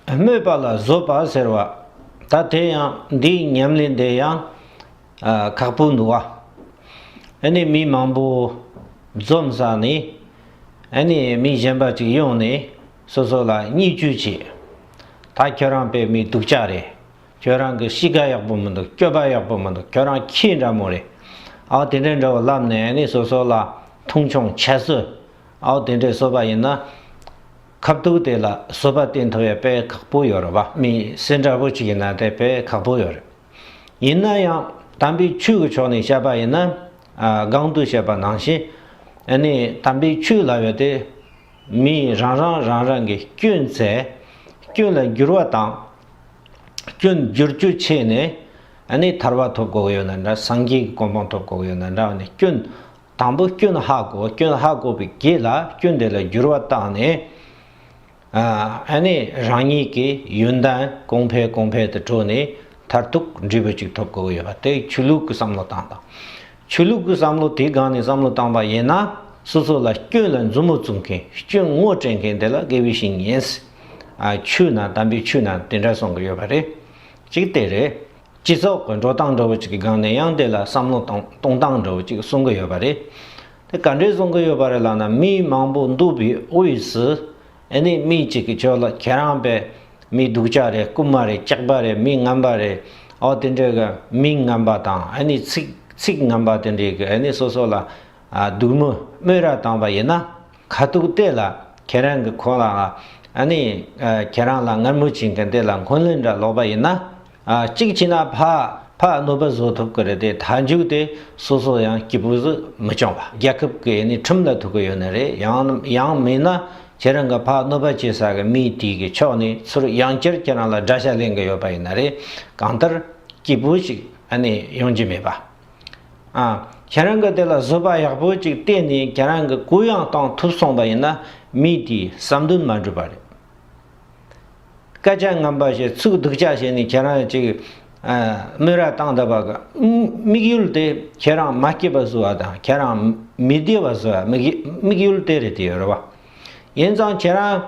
སྨོད་པ་ལ་བཟོད་པ་ཟེར་བ། ད་དེ་ཡང་འདིའི་ཉམས་ལེན་དེ་ཡང་ཁག་པོ་འདུག་བ། ཨེ་ནས་མི་མང་པོ་འཛོམས་ས་ནས་ཨེ་ནས་མི་གཞན་པ་ཅིག་ཡོང་ནས་སོ་སོ་ལ་བསྙད་བཅོས་བྱེད། ད་ཁྱོད་རང་པད་མའི་དུག་ཅག་རེད། ཁྱོད་རང་གི་གཤིས་ཀ་ཡག་པོ་མི་འདུག་སྤྱོད་པ་ཡག་པོ་མི་འདུག་ཁྱོད་རང་ཁྱི་འདྲ་མོ་རེད། ཨའོ་དེ་འདྲའི་འདྲ་བོ་ལབ་ནས་ཨེ་ནས་སོ་སོ་ལ་མཐོང་ཆུང་བྱེད་སྲིད། ཨའོ་དེ་འདྲའི་བཟོད་པ་ཡིན་ན། ཁ་བཏུགས་དེ་ལ་སོ་པ་སྟེ་མཐོ་བའི་དཔེ་ཁག་པོ་ཡོད་རེད་བ་མི་སེར་འདྲ་བོ་ཅིག་ཡིན་ན་དེ་དཔེ་ཁག་པོ་ཡོད་རེད། ཡིན་ན་ཡང་དམ་པའི་ཆོས་ཀྱི་ཕྱོགས་ནས་བཤད་པ་ཡིན་ན་སྒང་དུ་བཤད་པ་ནང་བཞིན་ནི་དམ་པའི་ཆོས་ལ་ཡོད་དེ། མི་རང་རང་རང་རང་གི་སྐྱོན་ཚད་སྐྱོན་ལ་འགྱུར་བ་དང། སྐྱོན་འགྱུར་རྒྱུ་ཆད་ནས་ནི་ཐར་བ་ཐོབ་དགོས་ཡོད་ན་འདྲ་སངས་རྒྱས་ཀྱི་གོ་འཕང་ཐོབ་དགོས་ཡོད་ན་འདྲ་བ་ནི་སྐྱོན། དང་པོ་སྐྱོན་ཧ་གོ་སྐྱོན་ཧ་གོ་བའི་གེགས་ལ་སྐྱོན་དེ་ལ་འགྱུར་བ་བཏང་ནས། ཨ་ནི་རང་ཉིད་ཀྱི་ཡོན་ཏན་གོང་འཕེལ་གོང་འཕེལ་དུ་འགྲོ་ནས་མཐར་ཐུག་འབྲས་བུ་གཅིག་ཐོབ་དགོས་ཀྱི་ཡོད་པ་དེ་ཆོས་ལུགས་ཀྱི་བསམ་བློ་བཏང་དང། ཆོས་ལུགས་ཀྱི་བསམ་བློ་དེའི་སྒང་ནས་བསམ་བློ་བཏང་པ་ཡིན་ན་སོ་སོ་ལ་སྐྱོན་ལ་མཛུབ་མོ་བཙུགས་མཁན་སྐྱོན་ངོ་སྤྲད་མཁན་དེ་ལ་དགེ་བའི་བཤེས་གཉེན། ཆོས་ནང་དམ་པའི་ཆོས་ནང་དེ་འདྲ་གསུང་གི་ཡོད་པ་རེད། གཅིག་དེ་རེད། སྤྱི་ཚོགས་ཀྱི་འགྲོ་སྟངས་འདྲ་བོ་ཅིག་གི་སྒང་ནས་ཡང་དེ་ལ་བསམ་བློ་གཏོང་གཏོང་སྟངས་འདྲ་བོ་ཅིག་གསུང་གི་ཡོད་པ་རེད། དེ་ག་འདྲས་གསུང་གི་ཡོད་པ་རེད་ལགས་ན་མི་མང་པོ་འདུག་པའི་དབུས་སུ་ཨེ་ནས་མི་གཅིག་གིས་ཁྱོད་ལ་ཁྱེད་རང་པས་མི་སྡུག་ཅག་རེད་རྐུན་མ་རེད་སྐྱག་པ་རེད་མི་ངན་པ་རེད་འོ་དེ་འདྲས་ཀྱི་མིང་ངན་པ་དང་ཨེ་ནས་ཚིག་ཚིག་ངན་པ་དེ་འདྲས་ཀྱི་ཨེ་ནས་སོ་སོ་ལ་སྡུག་དམོད་དམོད་ར་བཏང་བ་ཡིན་ན་ཁ་ཐུག་དེ་ལ་ཁྱེད་རང་གི་ཁོ་ལ་ཨེ་ནས་ཁྱེད་རང་ལ་ངར་མུར་བྱེད་མཁན་དེ་ལ་འཁོན་ལན་འདྲ་ལོག་པ་ཡིན་ན། གཅིག་བྱས་ན་ཕ་ཕ་གནོད་པ་བཟོ་ཐུབ་ཀྱི་རེད་དེ་མཐའ་མཇུག་དེ་སོ་སོ་ཡང་སྐྱིད་པོ་ཟིག་མི་སྐྱོང་བ་རྒྱལ་ཁབ་ཀྱི་ཡིན་ནའི་ཁྲིམས་ལ་ཐུག་ཀྱི་ཡོད་ནི་རེད་ཡང་ཡང་མིན་ན་ཁྱེད་རང་གི་ཕ་གནོད་པ་བྱེད་ས་ཀྱི་མི་དེ་གི་ཕྱོགས་ནས་ཚུར་ཡང་བསྐྱར་ཁྱེད་རང་ལ་དགྲ་ཤ་ལེན་གྱི་ཡོད་པ་ཡིན་ནི་རེད་གང་ལྟར་སྐྱིད་པོ་ཞིག་ཨ་ནི་ཡོང་གྱི་མེད་པ་ཨ་ཁྱེད་རང་གི་དེ་ལ་བཟོད་པ་ཡག་པོ་ཅིག་གཏན་ནས་ཁྱེད་རང་གི་གུ་ཡང་གཏང་ཐུབ་སོང་བ་ཡིན་ན་མི་དེའི་བསམ་འདུན་མ་འགྲུབ་པ་རེད། སྐད་ཆ་ངན་པ་ཞིག་ཚུགས་འདུག་ཅག་བྱས་ནས་ཁྱེད་རང་ཅིག་སྨོས་ར་བཏང་ད་བ་ག་དམིགས་ཡུལ་དེ་ཁྱེད་རང་མ་སྐྱིད་པ་བཟོ་བ་དང་ཁྱེད་རང་མི་བདེ་བ་བཟོ་བ་དམིགས་ཡུལ་དེ་རེད་ཡོད་རེད་བ། ཡིན་ཙང་ཁྱེད་རང་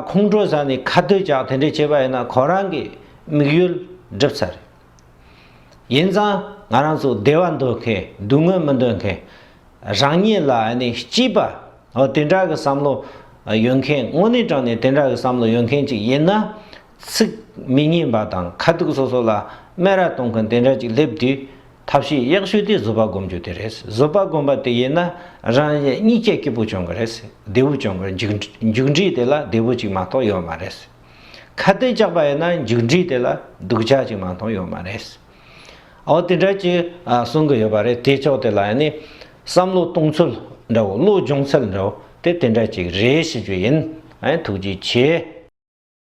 ཁོང་ཁྲོ་ཟ་ནས་ཁ་བསྡུད་ཅག་དེ་འདྲས་བྱས་པ་ཡིན་ན་ཁོ་རང་གི་དམིགས་ཡུལ་འགྲིབ་ཚར་རེད། ཡིན་ཙང་ང་རང་ཚོ་བདེ་བ་འདོད་མཁན་སྡུག་བསྔལ་མི་འདོད་མཁན། རང་ཉིད་ལ་སྐྱིད་པ་དེ་འདྲ་གི་བསམ་བློ་ཡོད་མཁན་དངོས་གནས་དྲང་ནས་དེ་འདྲ་གི་བསམ་བློ་ཡོད་མཁན་ཅིག་ཡིན་ན། ཚིག་མི་སྙན་པ་དང་ཁ་ཐུག་སོ་སོ་ལ་སྨད་ར་གཏོང་མཁན་དེ་འདྲ་ཅིག་སླེབས་དུས་ཐབས་ཤེས་ཡག་ཤོས་དེ་བཟོད་པ་སྒོམ་རྒྱུ་དེ་རེད་བཟོད་པ་སྒོམ་པ་དེ་ཡིན་ན་རང་ཉིད་གཉིད་ཀྱི་སྐྱིད་པོ་བྱུང་གི་རེད་བདེ་བོ་བྱུང་གི་རེད་མཇུག་འབྲས་དེ་ལ་བདེ་བོ་ཅིག་མ་གཏོགས་ཡོད་མ་རེད། ཁ་གཏད་བཅག་པ་ཡིན་ན་མཇུག་འབྲས་དེ་ལ་སྡུག་ཅག་ཅིག་མ་མཐོང་ཡོད་མ་རེད། འོ་དེ་འདྲ་ཅིག་གསུང་གི་ཡོད་པ་རེད་དེ་ཕྱོགས་དེ་ལ་ཡང་ནི། བསམ་བློ་གཏོང་ཚུལ་འདྲ་བོ་བློ་སྦྱོང་ཚུལ་འདྲ་བོ་དེ་དེ་འདྲ་ཅིག་རེད་ཞེས་རྒྱུ་ཡིན། ཐུགས་རྗེ་ཆེ།